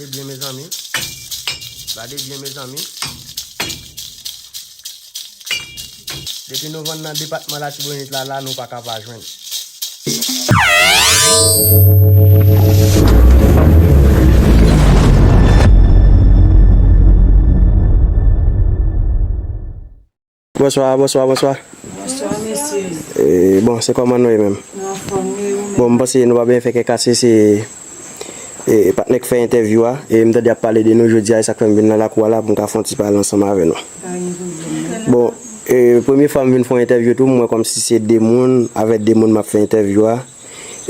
Gade byen mezanmi. Gade byen mezanmi. Depi nou vann nan depatman latibonit la la nou pa ka pa jwenn. Bonswa bonswa bonswa. Bonswa mesye. Eee bon se kòman nou ye menm. Nou anfòm nou e ou menm. Bon m panse nou pa byen fè kè kase se ee patnè k fè entèvyou a e m tande yap pale de nou jodi a e sak fè m vin nan lakou a la pou m ka fon ti pale ansanm avè nou. Pa gen pwoblèm. Bon ee premye fwa m vin fon entèvyou tou m wè kòmsi se de moun avè de moun map fè entèvyou a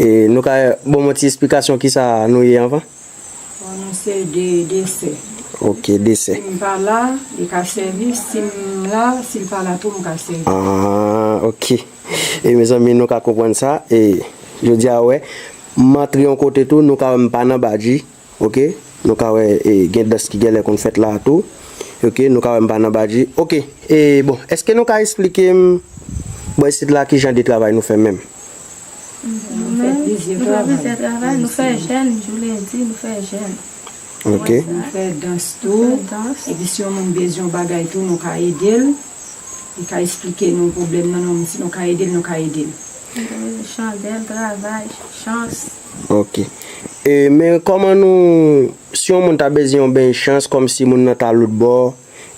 e nou ka bon m yon ti esplikasyon kisa nou ye anvan? Pwononse de desè. Ok, desè. Si m pa la, li ka sèvi. Si m la, si l pa la tou, m ka sèvi. Aah, ok. E mezanmi, nou ka konprann sa. E, jodi a, wè, m antre yon kote tou, nou ka wè m pa nan badji. Ok. Nou ka wè, e, gen dans ki gen lè konn fèt la a tou. Ok. Nou ka wè m pa nan badji. Ok. E, bon, èske nou ka esplike m, bò isit la, ki jan de travay nou fè menm? Nou fè plizyè travay, nou fè jèn jou lendi, nou fè jèn. Ok. Nou fè dans tou. Nou fè dans. Epi si yon moun bezwen yon bagay tou nou ka ede l. Li ka esplike nou pwoblèm nan nou, si nou ka ede l nou ka ede l. Li ka mete chandèl, travay, chans. Ok. E men kòman nou, si yon moun ta bezwen yon beny chans kòmsi moun nan ta loutbò.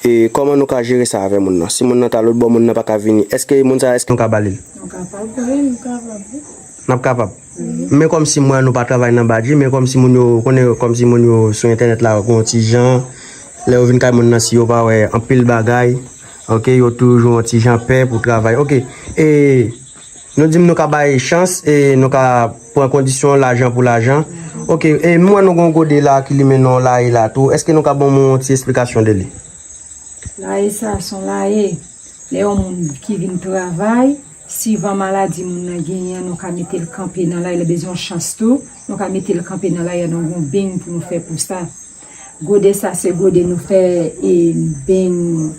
E kòman nou ka jere sa avè moun nan? Si moun nan ta lotbò, moun nan pa ka vini, èske moun sa a èske nou ka ba li l? Nou kapab. Wi, nou kapab wi. N ap kapab. Men kòmsi mwen an nou pa travay nan Badji, men kòmsi moun yo, ou konnen kòmsi moun yo sou entènèt la gen yon ti jan, lè yo vin kay moun nan si yo pa wè anpil bagay, ok, yo toujou yon ti jan pè pou travay, ok. E. Nou dim nou ka bay chans e nou ka pran kondisyon lajan pou lajan. Ok, e m wè nou gen yon gode la ki limen nan yon laye la tou. Eske nou ka ban mwen yon ti esplikasyon de li? Laye sa a se yon laye lè yon moun ki vin travay, sivan maladi moun nan genyen an nou ka mete l kanpe nan laye, lè bezwen yon chans tou, nou ka mete l kanpe nan laye a, nou gen yon beny pou nou fè pou sa. Gode sa se gode nou fè e beny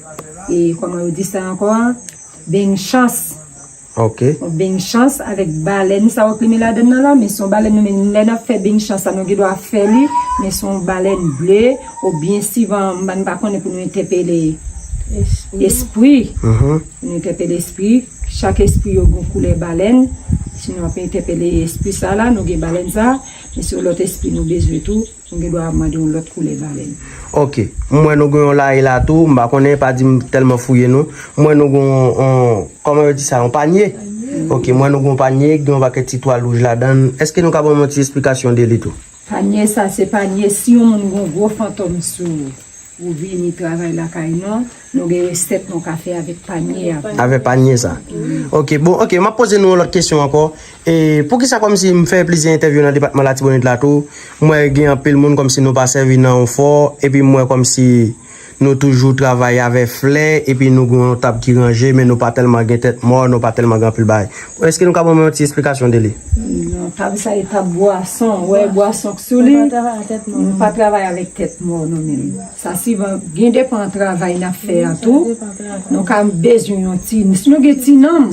e koman yo di sa ankò a beny chans ok yon beny chans avèk balèn sa yo ki met ladann nan la men son balèn nou menm lè nap fè beny chans sa nou gen dwa fè li men son balèn ble ou byen sivan m pa konnen pou nou entèpele espri pou nou entèpele espri chak espri yo gon koulè balèn si nou ap entèpele espri sa la nou gen balèn sa men se yon lòt espri nou bezwen tou. Nou gen dwa mande yon lòt koulè balèn. Ok. M wè nou gen yon lari la tou. M pa konnen, pa di m tèlman fouye nou. M wè nou gen yon, kòman yo di sa, yon panye? Ok, m wè nou gen yon panye ki gen yon pakèt ti twal wouj ladan l. Èske nou ka ban m yon ti esplikasyon de li tou? Panye sa se panye si yon moun gen yon gwo fantòm sou ou vini travay lakay nou, Nou gen reset nou ka fe avek panye a vre. Avè panye sa. Ok bon ok map poze nou yon lòt kesyon ankò e poukisa kòmsi m fè plizyè entèvyou nan depatman latibonit la tou m wè gen anpil moun kòmsi nou pa sèvi nan yon fò epi m wè kòmsi nou toujou travay avè flè epi nou gen yon tab ki ranje men nou pa tèlman gen tèt mò nou pa tèlman gen anpil bagay èske nou ka ban mwen yon ti esplikasyon de li. Non tab sa e tab bwason ou wè bwason k sou li nou pa travay avèk tèt mò nou menm. Sa sivan byen depan travay nap fè a tou nou ka bezwen yon ti si nou gen ti nanm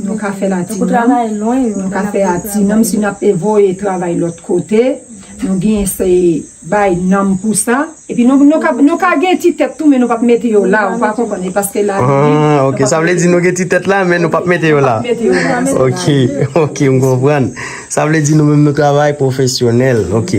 nou ka fèl a ti nanm nou ka fè a ti nanm si nap e voye travay lòt kote nou gen se bay nanm pou sa epi nou nou ka nou ka gen ti tèt tou men nou pap mete yo la ou pa konprann e paske la aah ok sa vle di nou gen ti tèt la men nou pap mete yo la ok ok m konprann sa vle di nou menm nou travay pwofesyonèl ok.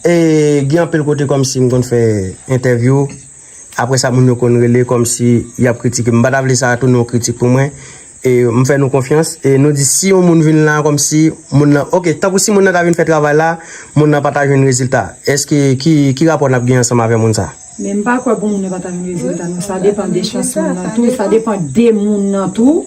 E gen anpil kote kòmsi m konn fè entèvyou, aprè sa moun yo konn rele kòmsi y ap kritike m. M pa ta vle sa tounen yon kritik pou mwen. E m fè nou konfyans e nou di si yon moun vin la kòmsi moun nan, ok, tankou si moun nan ta vin fè travay la, moun nan pa ta jwenn rezilta. Èske ki rapò n ap gen ansanm avè moun sa a? Men m pa kwè pou moun nan pa ta jwenn rezilta non. Sa depan de chans moun nan tou, sa depan de moun nan tou.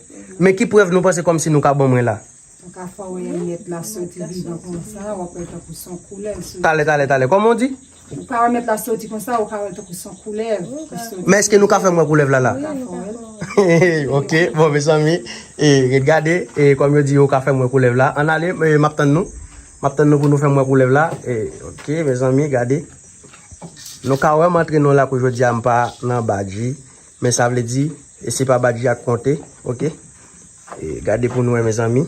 Men ki prèv nou panse kòmsi nou ka ban mwen la? Mwen ka fè w wè mèt la soti vivan konsa, w ap wè l tankou s on koulèv ki soti. Talè, talè, talè, kòman w di? Ou ka wè mèt la soti konsa, ou ka wè l tankou s on koulèv ki soti. Men èske nou ka fè m wè koulèv la la? Mwen ka fè w wè l. Ok, bon mezanmi, e ret gade, e kòm yo di yo ka fè m wè koulèv la, ann ale, m ap tann nou. M ap tann nou pou nou fè m wè koulèv la. E, ok, mezanmi, gade. Nou ka wè m antre nan yon lakou jodi a, m pa nan badji. Men sa vle di e se pa badji ak konte ok e gade pou nou wè mezanmi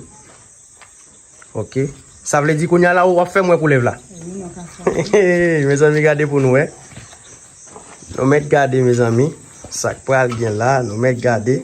ok sa vle di kounya la ou wap fèm wè koulèv la hehehe mezanmi gade pou nou wè nou mèt gade mezanmi sak pral gen la nou mèt gade.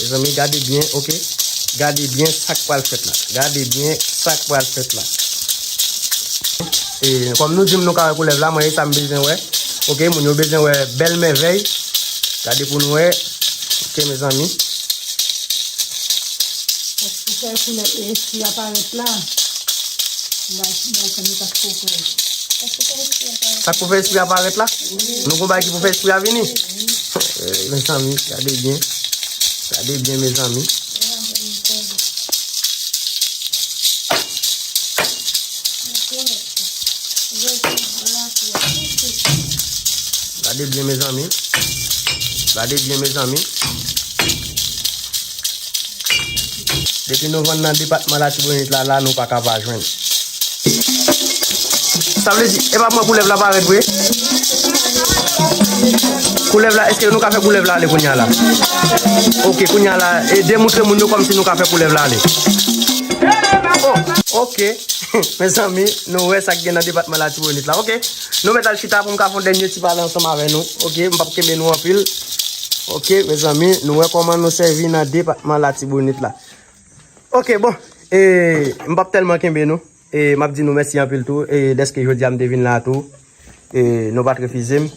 Mezanmi gade byen ok gade byen sak pral fèt la gade byen sak pral fèt la ee kòm nou dim nou ka wè koulèv la mwen e sam bezwen wè ok moun yo bezwen wè bèl mèvèy gade pou nou wè ok mezanmi sak pou fè espri a parèt la. Nou kon bay ki pou fè espri a vini. Men zanmi, gade byen. Gade byen men zanmi. Gade byen men zanmi. Gade byen men zanmi. Depi nou vann nan depatman latibonit la la nou paka pa jwenn. Sa vle di epa mwen koulèv la parèt vre? Koulèv la eske nou ka fè koulèv la ale kounya la? Ok kounya la e demoutre moun yo kòmsi nou ka fè koulèv la ale. Ok mezanmi nou wè sak gen nan depatman latibonit la ok. Nou mèt al chita pou m ka fè yon dènye ti pale ansanm avè nou, ok, m pap kenbe nou anpil. Ok, mezanmi, nou wè kòman nou sèvi nan depatman Latibonit la. Ok, bon, e, m pap tèlman kenbe nou, e, m ap di nou mèsi anpil tou, e, dèske jodi a m te vin la tou, e, nou pa t refize m.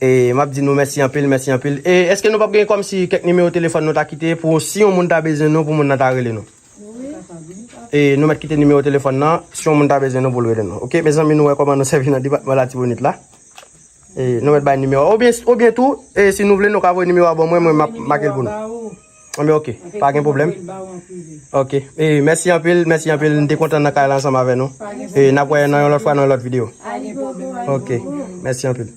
E, m ap di nou mèsi anpil, mèsi anpil. E, èske nou pap gen kòmsi kèk nimewo telefòn nou ta kite pou si yon moun ta bezwen nou pou moun nan ta rele nou? E nou mèt kite nimewo telefòn nan, si yon moun ta bezwen nou pou l rele nou. Ok mezanmi nou wè kòman nou sèvi nan depatman Latibonit la. E nou mèt bay nimewo a. Oubyen tou, e si nou vle nou ka voye nimewo a ban mwen, mwen m ap make l pou nou. Anben ok, pa gen pwoblèm. Ok, e mèsi anpil, mèsi anpil, m te kontan nan kay la ansanm avè nou. E n ap wè nan yon lòt fwa nan yon lòt videyo. Ok, mèsi anpil.